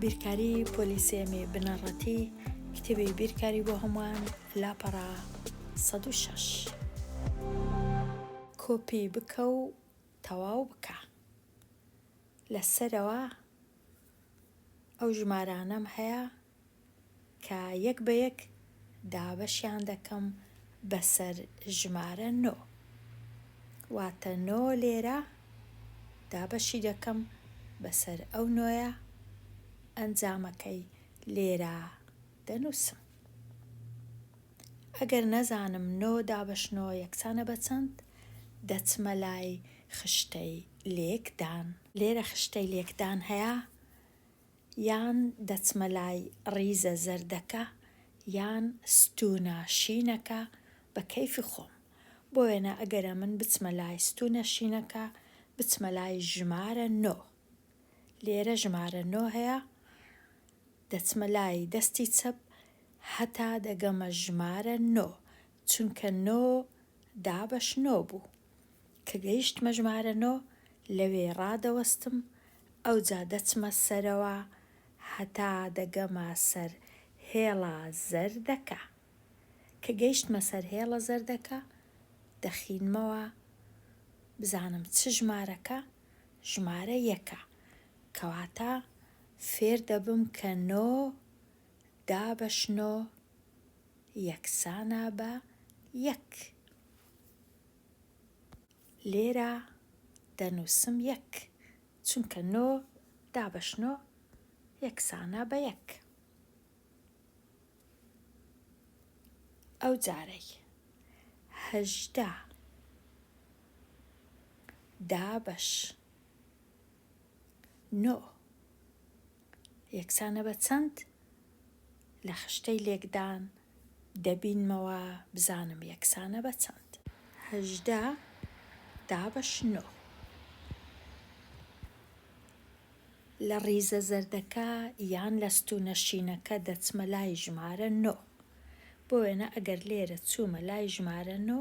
بیرکاری پۆلیسێمی بنەڕەتی کتێبی بیرکاری بۆ هەمووان لاپەڕا 16 کۆپی بکە و تەواو بکە لەسەرەوە ئەو ژمارانەم هەیە کە یەک بە یەک دابەشیان دەکەم بەسەر ژمارە نۆ واتە نۆ لێرە دابەشی دەکەم بەسەر ئەو نۆیە ئەنجامەکەی لێرە دەنووسم ئەگەر نەزانم نۆ دابەش نۆ یەکسانە بە چەند دەچمە لای خشتەی لێکدان لێرە خشتەی لێکدان هەیە یان دەچمە لای ڕیزە زەردەکە یان ستوونە شینەکە بە کەیفی خۆم. بۆ وێنە ئەگەرە من بچمە لای ستوونە شینەکە، بچمە لای ژمارە نۆ. لێرە ژمارە نۆ هەیە، دەچمە لای دەستی چەپ هەتا دەگەمە ژمارە نۆ. چونکە نۆ دابەش نۆ بوو. کە گەیشتمە ژمارە نۆ لەوێ ڕادەوەستم، ئەوجا دەچمە سەرەوە هەتا دەگەمە سەر هێڵە زەردەکە. کە گەیشتمە سەر هێڵە زەردەکە دەخینمەوە بزانم چ ژمارەکە ژمارە یەکە. کەواتە فێر دەبم کە نۆ دابەش نۆ. یەکسانە بە یەک. لێرە دەنووسم یەک چونکە نۆ دابەش نۆ یەکسانە بە یەک. ئەو جارەی هەژدە دابەش نۆ یەکسانە بە چەند؟ لە خشتەی لێکدان دەبینمەوە بزانم یەکسانە بە چەند. هەژدە دابەش نۆ. لە ڕیزە زەردەکە یان لە ستوونە شینەکە دەچمە لای ژمارە نۆ. بۆ وێنە ئەگەر لێرە چوومە لای ژمارە نۆ،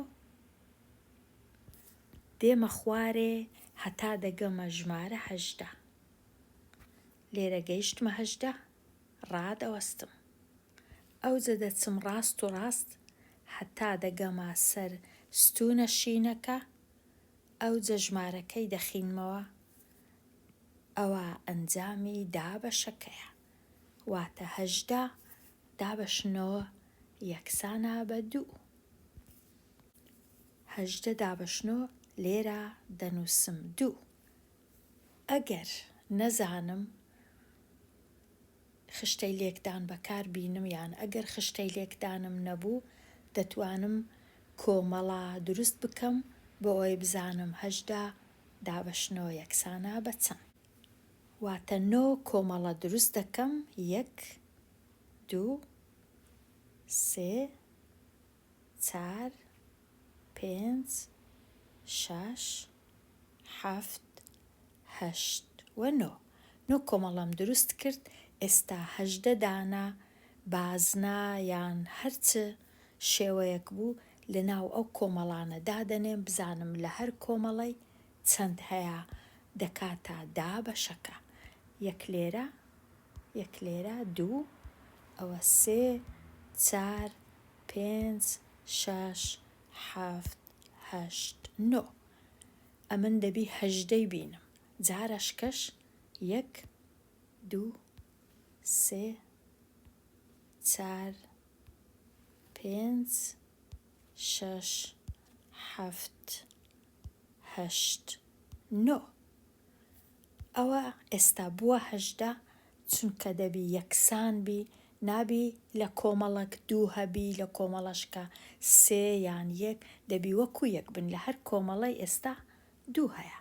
دێمە خوارێ هەتا دەگەمە ژمارە هەژدە. لێرە گەیشتمە هەژدە، ڕادەوەستم. ئەوجە دەچم ڕاست و ڕاست هەتا دەگەمە سەر ستوونە شینەکە، ئەوجە ژمارەکەی دەخینمەوە. ئەوە ئەنجامی دابەشەکەیە. واتە هەژدە دابەشنەوە یەکسانە بە دوو. هەژدە دابەشنۆ لێرا دەنووسم دوو ئەگەر نەزانم خشتەی لێکدان بەکار بینم یان ئەگەر خشتەی لێکدانم نەبوو دەتوانم کۆمەڵە دروست بکەم بۆ ئەوەی بزانم هەژدە دابەشنۆ یەکسانە بە چەند واتە نۆ کۆمەڵە دروست دەکەم یەک دوو سێ چار پێنج شەش حەفت هەشت و نۆ نۆ کۆمەڵەم دروست کرد ئێستا هەژدە دانە بازنە یان هەر چ شێوەیەک بوو لە ناو ئەو کۆمەڵانە دادەنێم بزانم لە هەر کۆمەڵەی چەند هەیە دەکاتە دا بەشەکە یەک لێرە یەک لێرە دوو ئەوە سێ چار پێنج شەش حەفت هەشت نۆ ئەمن دەبی هەژدەی بینم جارەشکەش یەک دوو سێ چار پێنج شەش حەفت هەشت نۆ ئەوە ئێستا بووە هەژدە چونکە دەبی یەکسان بی نابی لە کۆمەڵەک دوو هەبی لە کۆمەڵەشکە سێ یان یەک دەبی وەکو یەک بن لە هەر کۆمەڵەی ئێستا دوو هەیە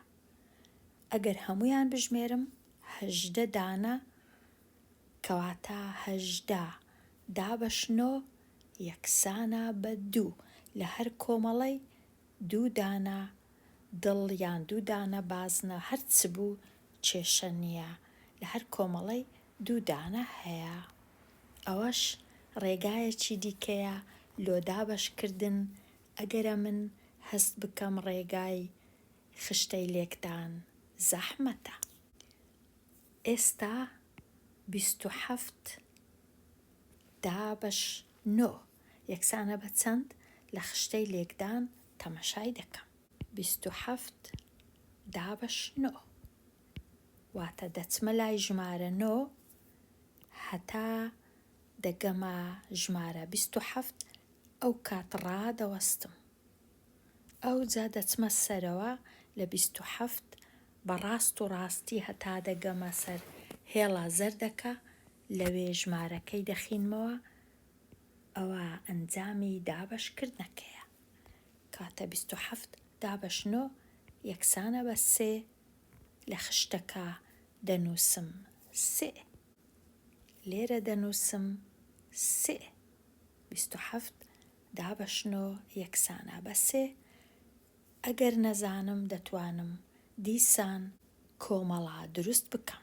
ئەگەر هەمویان بژمێرم هەژدە دانە کەواتە هەژدە دابەش نۆ یەکسانە بە دوو لە هەر کۆمەڵەی دوو دانە دڵ یان دوو دانە بازنە هەر چ بوو کێشە نییە لە هەر کۆمەڵەی دوو دانە هەیە ئەوەش ڕێگایەکی دیکەیە لۆ دابەش کردن ئەگەرە من هەست بکەم ڕێگای خشتەی لێکدان زەحمەتە ئێستا بیست و حەفت دابەش نۆ. یەکسانە بە چەند لە خشتەی لێکدان تەمەشای دەکەم. بیست و حەفت دابەش نۆ. واتە دەچمە لای ژمارە نۆ هەتا دەگەمە ژمارە بیست و حەفت ئەو کات ڕادەوەستم. ئەوجا دەچمە سەرەوە لە بیست و حەفت بە ڕاست و ڕاستی هەتا دەگەمە سەر هێڵە زەردەکە لەوێ ژمارەکەی دەخینمەوە ئەوا ئەنجامی دابەش کردنەکەیە کاتە بیست و حەفت دابەش نۆ یەکسانە بە سێ لە خشتەکە دەنووسم سئ لێرە دەنووسم سئ بیست و حەفت دابەش نۆ یەکسانە بە سێ ئەگەر نەزانم دەتوانم دیسان کۆمەڵە دروست بکەم.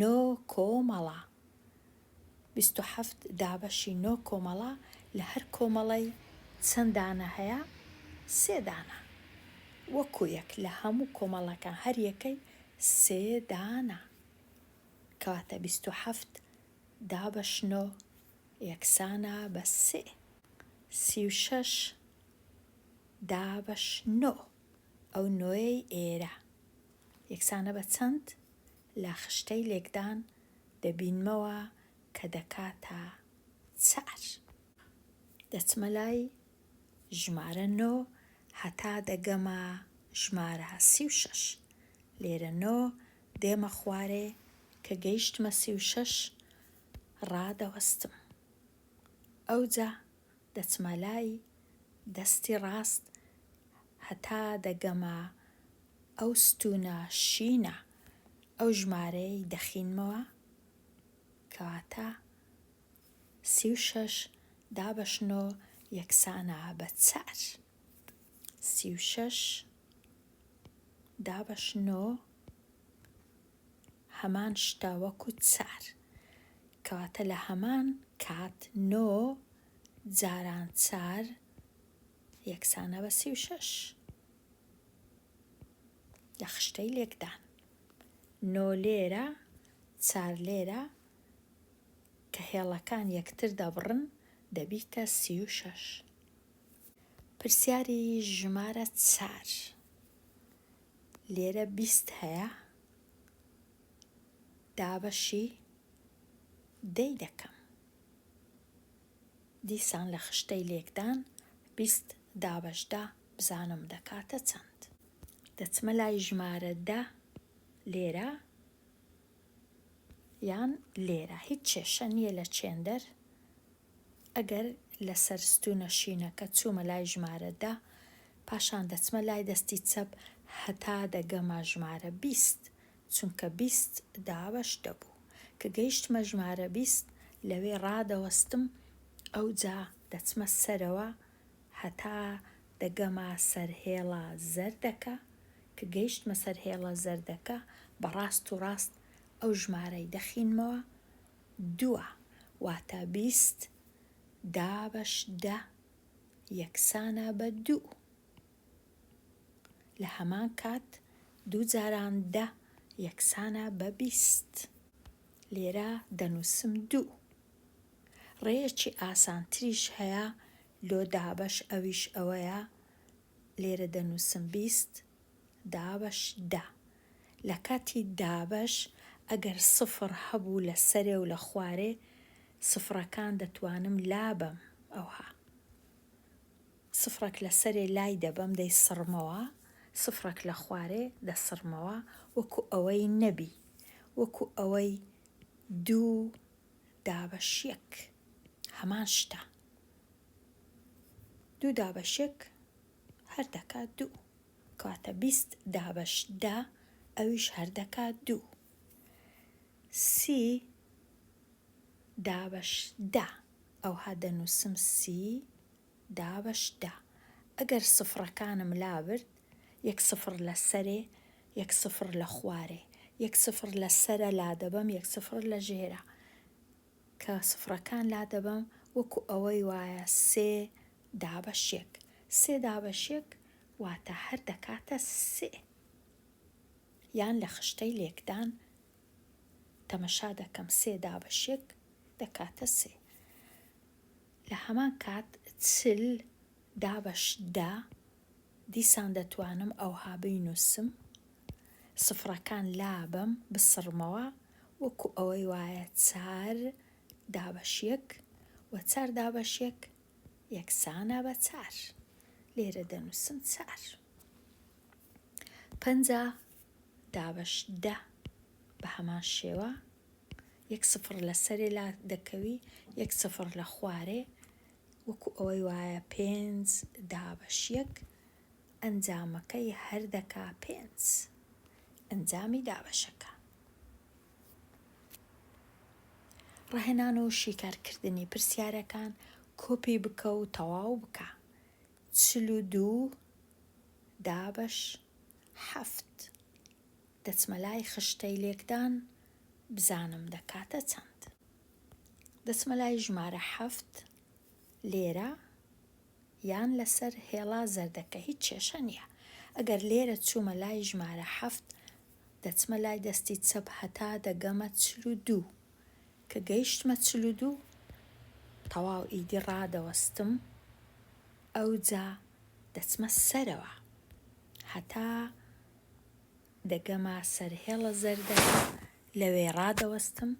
نۆ کۆمەڵە، بیست و حەفت دابەشی نۆ کۆمەڵە، لە هەر کۆمەڵەی چەند دانە هەیە؟ سێ دانە. وەکو یەک لە هەموو کۆمەڵەکان هەر یەکەی سێ دانە. کەواتە بیست و حەفت دابەش نۆ یەکسانە بە سێ. سی و شەش دابەش نۆ، ئەو نۆیەی ئێرە، یەکسانە بە چەند؟ لە خشتەی لێکدان دەبینمەوە کە دەکاتە چار. دەچمە لای ژمارە نۆ هەتا دەگەمە ژمارە سی و شەش. لێرە نۆ دێمە خوارێ کە گەیشتمە سی و شەش ڕادەوەستم. ئەوجا دەچمە لای دەستی ڕاست هەتا دەگەمە ئەو ستوونە شینە ئەو ژمارەیەی دەخینمەوە کەواتە سی و شەش دابەشنۆ یەکسانە بە چار سی و شەش دابەشنۆ هەمان شتە وەکو چار. کەواتە لە هەمان کات نۆ جاران چار یەکسانە بە سی و شەش لە خشتەی لێکدان نۆ لێرە چار لێرە کە هێڵەکان یەکتر دەبڕن دەبیتە سی و شەش پرسیاری ژمارە چار لێرە بیست هەیە دابەشی دەی دەکەم دیسان لە خشتەی لێکدان بیست دابەشدا بزانم دەکاتە چەند دەچمە لای ژمارە دە لێرە یان لێرە هیچ کێشە نییە لە چێندەر ئەگەر لە سەر ستوونە شینەکە چوومە لای ژمارە دە، پاشان دەچمە لای دەستی چەپ هەتا دەگەمە ژمارە بیست، چونکە بیست دابەش دەبوو. کە گەیشتمە ژمارە بیست، لەوێ ڕادەوەستم، ئەوجا دەچمە سەرەوە هەتا دەگەمە سەر هێڵە زەردەکە، کە گەیشتمە سەر هێڵە زەردەکە، بە ڕاست و ڕاست ئەو ژمارەی دەخینمەوە، دووە واتە بیست دابەش دە یەکسانە بە دوو. لە هەمان کات دوو جاران دە یەکسانە بە بیست. لێرە دەنووسم دوو. ڕێیەکی ئاسانتریش هەیە لۆ دابەش ئەویش ئەوەیە لێرە دەنووسم بیست دابەش دە. لە کاتی دابەش ئەگەر سفر هەبوو لە سەرێ و لە خوارێ سفرەکان دەتوانم لابەم ئەوها سفرەک لە سەرێ لای دەبەم دەی سڕمەوە سفرەک لە خوارێ دەسڕمەوە وەکو ئەوەی نەبی وەکو ئەوەی دوو دابەش یەک هەمان شتە دوو دابەش یەک هەر دەکات دوو. کەواتە بیست دابەش دە ئەویش هەر دەکات دوو. سی دابەش دە ئەوها دەنووسم سی دابەش دە. ئەگەر سفڕەکانم لابرد یەک سفڕ لە سەرێ یەک سفڕ لە خوارێ یەک سفڕ لە سەرە لادەبەم یەک سفڕ لە ژێرە. کە سفرەکان لادەبەم وەکو ئەوەی وایە سێ دابەش یەک سێ دابەش یەک واتە هەر دەکاتە سێ یان لە خشتەی لێکدان تەمەشا دەکەم سێ دابەش یەک دەکاتە سێ لە هەمان کات چل دابەش دە دیسان دەتوانم ئەوها بینووسم، سفرەکان لابەم، بسڕمەوە، وەکو ئەوەی وایە چار دابەش یەک و چار دابەش یەک یەکسانە بە چار. لێرە دەنووسم چار. پەنجا دابەش دە بە هەمان شێوە یەک سفر لە سەرێ لا دەکەوی یەک سفر لە خوارێ وەکو ئەوەی وایە پێنج دابەش یەک ئەنجامەکەی هەر دەکا پێنج ئەنجامی دابەشەکە. ڕاهێنان و شیکارکردنی پرسیارەکان کۆپی بکە و تەواو بکە چل و دوو دابەش حەفت دەچمە لای خشتەی لێکدان بزانم دەکاتە چەند. دەچمە لای ژمارە حەفت لێرە یان لەسەر هێڵا زەردەکە هیچ کێشە نییە ئەگەر لێرە چوومە لای ژمارە حەفت دەچمە لای دەستی چەپ هەتا دەگەمە چل و دوو کە گەیشتمە چل و دوو تەواو ئیدی ڕادەوەستم ئەوجا دەچمە سەرەوە هەتا دەگەمە سەر هێڵە زەردەکە، لەوێ ڕادەوەستم،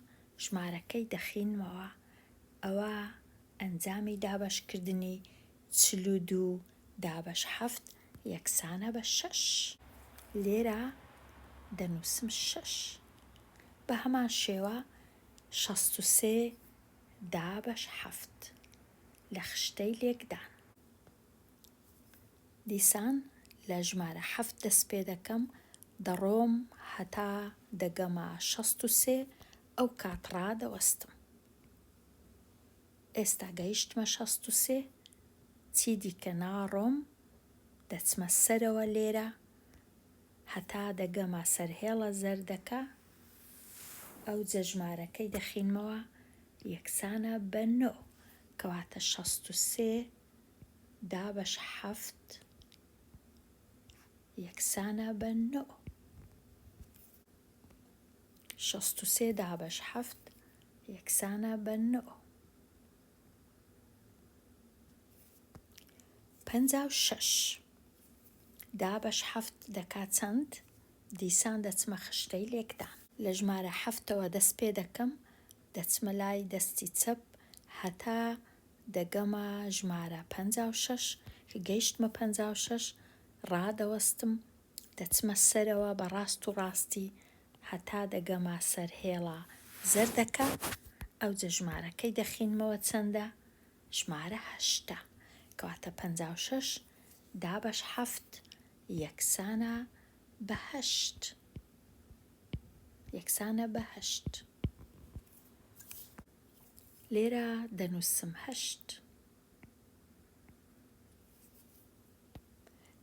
ژمارەکەی دەخینمەوە، ئەوە ئەنجامی دابەشکردنی چل و دوو دابەش حەفت یەکسانە بە شەش. لێرە دەنووسم شەش. بە هەمان شێوە شەست و سێ دابەش حەفت لە خشتەی لێکدان. دیسان لە ژمارە حەفت دەست پێ دەکەم، دەڕۆم هەتا دەگەمە شەست و سێ، ئەو کات ڕادەوەستم. ئێستا گەیشتمە شەست و سێ، چی دیکە ناڕۆم، دەچمە سەرەوە لێرە هەتا دەگەمە سەرهێڵە زەردەکە، ئەوجە ژمارەکەی دەخینمەوە یەکسانە بە نۆ، کەواتە شەست و سێ. دابەش حەفت یەکسانە بە نۆ شەست و سێ دابەش حەفت یەکسانە بە نۆ پەنجا و شەش دابەش حەفت دەکا چەند دیسان دەچمە خشتەی لێکدان لە ژمارە حەفتەوە دەست پێ دەکەم دەچمە لای دەستی چەپ هەتا دەگەمە ژمارە پەنجا و شەش، کە گەیشتمە پەنجا و شەش ڕادەوەستم، دەچمە سەرەوە بە ڕاست و ڕاستی هەتا دەگەمە سەر هێڵە زەردەکە، ئەوجە ژمارەکەی دەخینمەوە چەندە؟ ژمارە هەشتە، کەواتە پەنجا و شەش دابەش حەفت یەکسانە بە هەشت. یەکسانە بە هەشت. لێرە دەنووسم هەشت.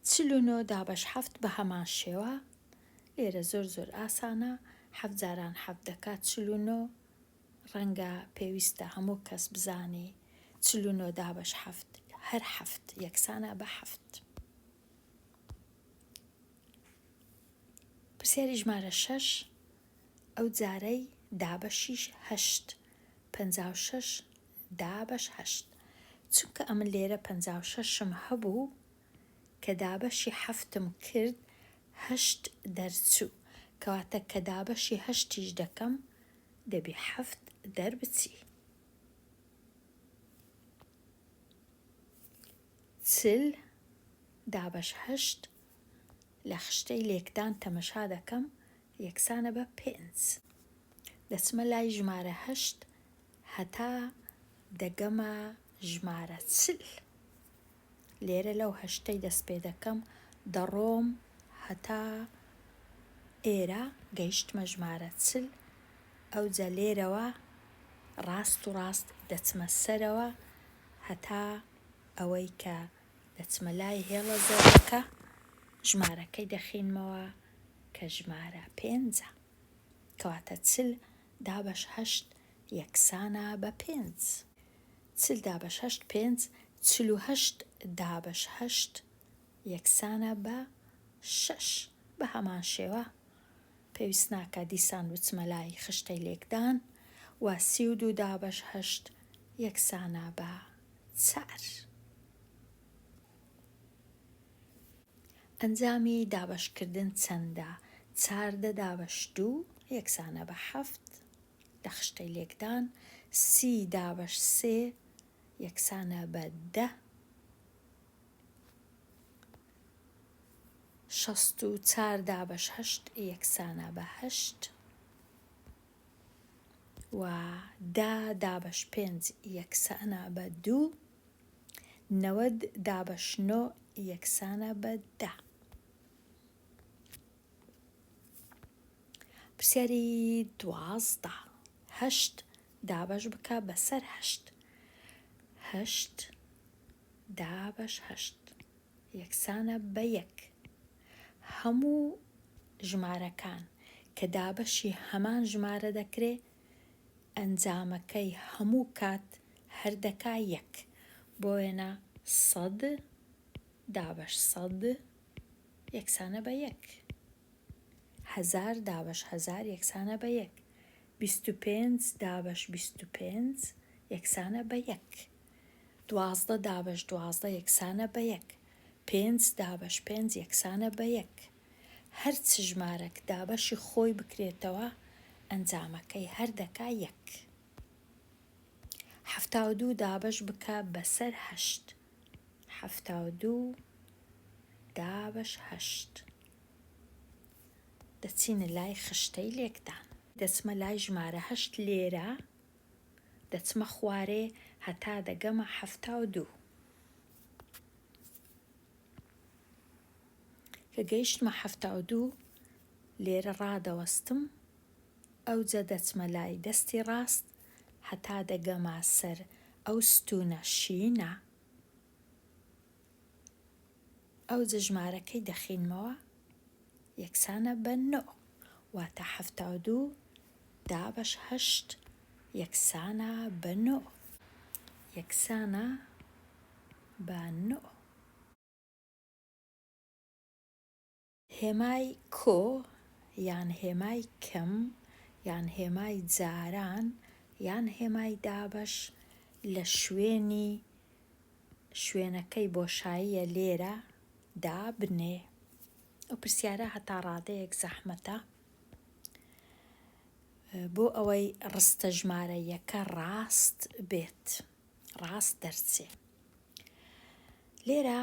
چل و نۆ دابەش حەفت بە هەمان شێوە لێرە زۆر زۆر ئاسانە حەفت جاران حەفت دەکات چل و نۆ ڕەنگە پێویستە هەموو کەس بزانی چل و نۆ دابەش حەفت هەر حەفت یەکسانە بە حەفت پرسیاری ژمارە شەش ئەو جارەی دابەشیش هەشت. پەنجا و شەش دابەش هەشت. چونکە ئەمن لێرە پەنجا و شەشم هەبوو، کە دابەشی حەفتم کرد، هەشت دەرچوو. کەواتە کە دابەشی هەشتیش دەکەم، دەبی حەفت دەربچی. چل دابەش هەشت لە خشتەی لێکدان تەمەشا دەکەم یەکسانە بە پێنج. دەچمە لای ژمارە هەشت هەتا دەگەمە ژمارە چل. لێرە لەو هەشتەی دەست پێ دەکەم دەڕۆم هەتا ئێرە گەیشتمە ژمارە چل ئەوجا لێرەوە ڕاست و ڕاست دەچمە سەرەوە هەتا ئەوەی کە دەچمە لای هێڵە زەردەکە ژمارەکەی دەخینمەوە کە ژمارە پێنجە کەواتە چل دابەش هەشت یەکسانە بە پێنج چل دابەش هەشت پێنج چل و هەشت دابەش هەشت یەکسانە بە شەش بە هەمان شێوە پێویست ناکە دیسان بچمە لای خشتەی لێکدان و سی و دوو دابەش هەشت یەکسانە بە چار. ئەنجامی دابەشکردن چەندە؟ چاردە دابەش دوو یەکسانە بە حەفت لە خشتەی لێکدان، سی دابەش سێ یەکسانە بە دە، شەست و چار دابەش هەشت یەکسانە بە هەشت. و دە دابەش پێنج یەکسانە بە دوو نەوەد دابەش نۆ یەکسانە بە دە پرسیاری دوازدە هەشت دابەش بکە بەسەر هەشت هەشت دابەش هەشت یەکسانە بە یەک. هەموو ژمارەکان کە دابەشی هەمان ژمارە دەکرێ ئەنجامەکەی هەموو کات هەر دەکا یەک. بۆ وێنە سەد دابەش سەد یەکسانە بە یەک. هەزار دابەش هەزار یەکسانە بە یەک. بیست و پێنج دابەش بیست و پێنج یەکسانە بە یەک. دوازدە دابەش دوازدە یەکسانە بە یەک. پێنج دابەش پێنج یەکسانە بە یەک. هەر چ ژمارەک دابەشی خۆی بکرێتەوە ئەنجامەکەی هەر دەکا یەک. حەفتا و دوو دابەش بکە بەسەر هەشت. حەفتا و دوو دابەش هەشت. دەچینە لای خشتەی لێکدان. دەچمە لای ژمارە هەشت لێرە دەچمە خوارێ هەتا دەگەمە حەفتا و دوو. کە گەیشتمە حەفتا و دوو لێرە ڕادەوەستم ئەوجە دەچمە لای دەستی ڕاست هەتا دەگەمە سەر ئەو ستوونە شینە. ئەوجە ژمارەکەی دەخینمەوە یەکسانە بە نۆ واتە حەفتا و دوو دابەش هەشت یەکسانە بە نۆ یەکسانە بە نۆ. هێمای کۆ یان هێمای کەم یان هێمای جاران یان هێمای دابەش لە شوێنی شوێنەکەی بۆشاییە لێرە دابنێ ئەو پرسیارە هەتا ڕادەیەک زەحمەتە بۆ ئەوەی ڕستە ژمارە یەکە ڕاست بێت ڕاست دەرچێ لێرە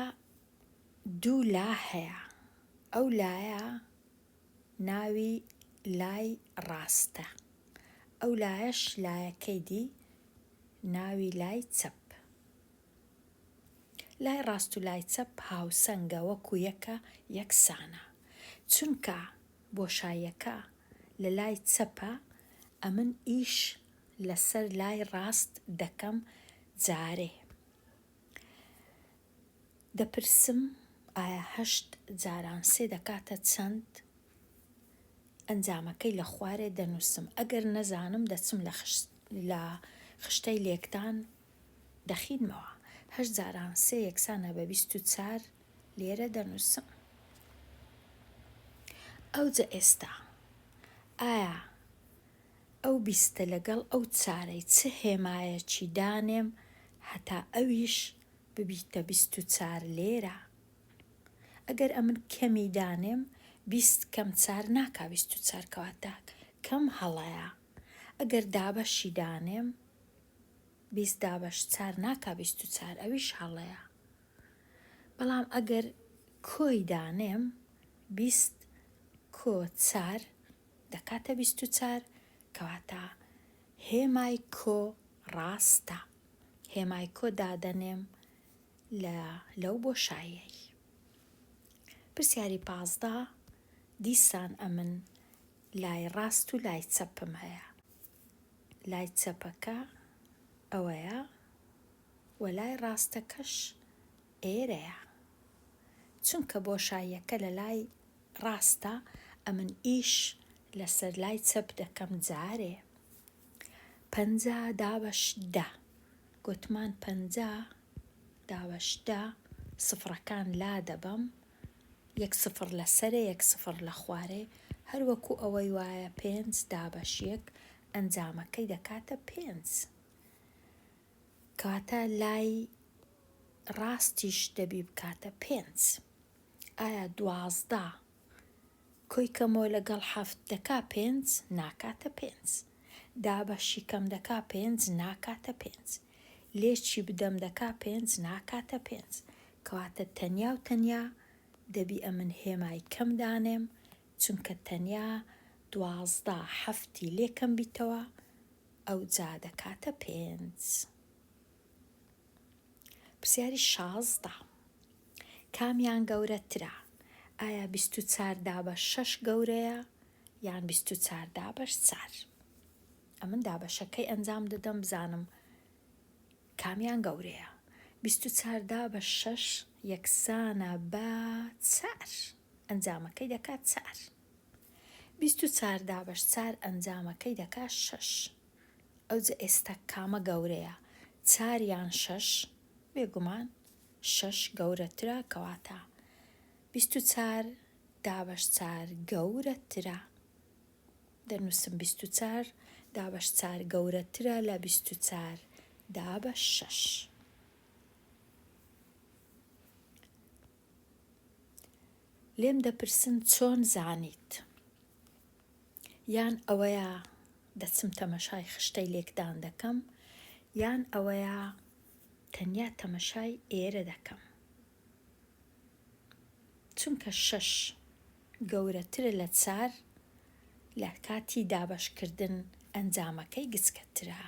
دوو لا هەیە ئەو لایە ناوی لای ڕاستە ئەو لایەش لایەکەی دی ناوی لای چەپ لای ڕاست و لای چەپ هاوسەنگە وەکو یەکە یەکسانە چونکە بۆشایەکە لە لای چەپە ئەمن ئیش لەسەر لای ڕاست دەکەم جارێ دەپرسم ئایا هەشت جاران سێ دەکاتە چەند؟ ئەنجامەکەی لە خوارێ دەنووسم، ئەگەر نەزانم دەچم لە لە خشتەی لێکدان دەخینمەوە، هەشت جاران سێ یەکسانە بە بیست و چار لێرە دەنووسم. ئەوجە ئێستا ئایا ئەو بیستە لەگەڵ ئەو چارەی چ هێمایەکی دانێم هەتا ئەویش ببیتە بیست و چار لێرە ئەگەر ئەمن کەمی دانێم بیست کەم چار ناکا بیست و چار کەواتە کەم هەڵەیە ئەگەر دابەشی دانێم بیست دابەش چار ناکا بیست و چار ئەویش هەڵەیە بەڵام ئەگەر کۆی دانێم بیست کۆ چار دەکاتە بیست و چار کەواتە هێمای کۆ ڕاستە هێمای کۆ دادەنێم لە لەو بۆشایەی پرسیاری پازدە دیسان ئەمن لای ڕاست و لای چەپم هەیە لای چەپەکە ئەوەیە و لای ڕاستەکەش ئێرەیە چونکە بۆشاییەکە لە لای ڕاستە ئەمن ئیش لەسەر لای چەپ دەکەم جارێ پەنجا دابەش دە گوتمان پەنجا دابەش دە سفڕەکان لا دەبەم یەک سفر لە سەرێ یەک سفر لە خوارێ هەروەکو ئەوەی وایە پێنج دابەش یەک ئەنجامەکەی دەکاتە پێنج کەواتە لای ڕاستیش دەبی بکاتە پێنج ئایا دوازدە کۆی کەمەوە لەگەڵ حەفت دەکا پێنج ناکاتە پێنج دابەشی کەم دەکا پێنج ناکاتە پێنج لێچی بدەم دەکا پێنج ناکاتە پێنج کەواتە تەنیا و تەنیا دەبی ئەمن هێمای کەم دانێم چونکە تەنیا دوازدە حەفتی لێکەم بیتەوە ئەوجا دەکاتە پێنج. پرسیاری شازدە. کامیان گەورەترە؟ ئایا بیست و چار دابەش شەش گەورەیە یان بیست و چار دابەش چار؟ ئەمن دابەشەکەی ئەنجام دەدەم بزانم کامیان گەورەیە بیست و چاردا بە شەش یەکسانە بە چار ئەنجامەکەی دەکات چار بیست و چار دابەش چار ئەنجامەکەی دەکا شەش. ئەوجە ئێستا کامە گەورەیە چار یان شەش؟ بێگومان شەش گەورەترە کەواتە بیست و چار دابەش چار گەورەترە دەنووسم بیست و چار دابەش چار گەورەترە لە بیست و چار دابەش شەش. لێم دەپرسن چۆن زانیت؟ یان ئەوەیە دەچم تەمەشای خشتەی لێکدان دەکەم یان ئەوەیە تەنیا تەمەشای ئێرە دەکەم چونکە شەش گەورەترە لە چار لە کاتی دابەشکردن ئەنجامەکەی گچکەترە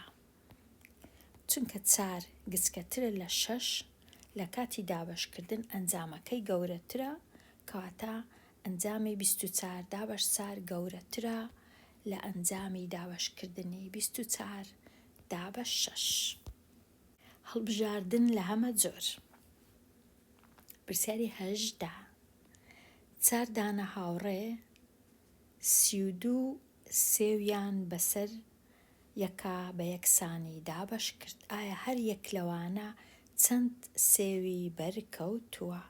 چونکە چار گچکەترە لە شەش لە کاتی دابەشکردن ئەنجامەکەی گەورەترە کەواتە ئەنجامی بیست و چار دابەش چار گەورەترە لە ئەنجامی دابەشکردنی بیست و چار دابەش شەش هەڵبژاردن لە هەمە جۆر پرسیاری هەژدا چار دانە هاوڕێ سی و دوو سێویان بەسەر یەکا بە یەکسانی دابەش کرد ئایا هەر یەک لەوانە چەند سێوی بەر کەوتووە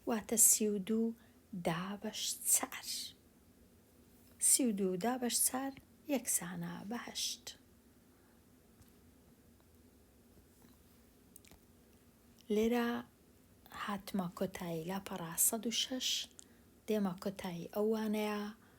واتە سی و دوو دابەش چار سی و دوو دابەش چار یەکسانە بە هەشت لێرە هاتمە کۆتایی لاپەڕا سەد و شەش دێمە کۆتایی ئەو وانەیە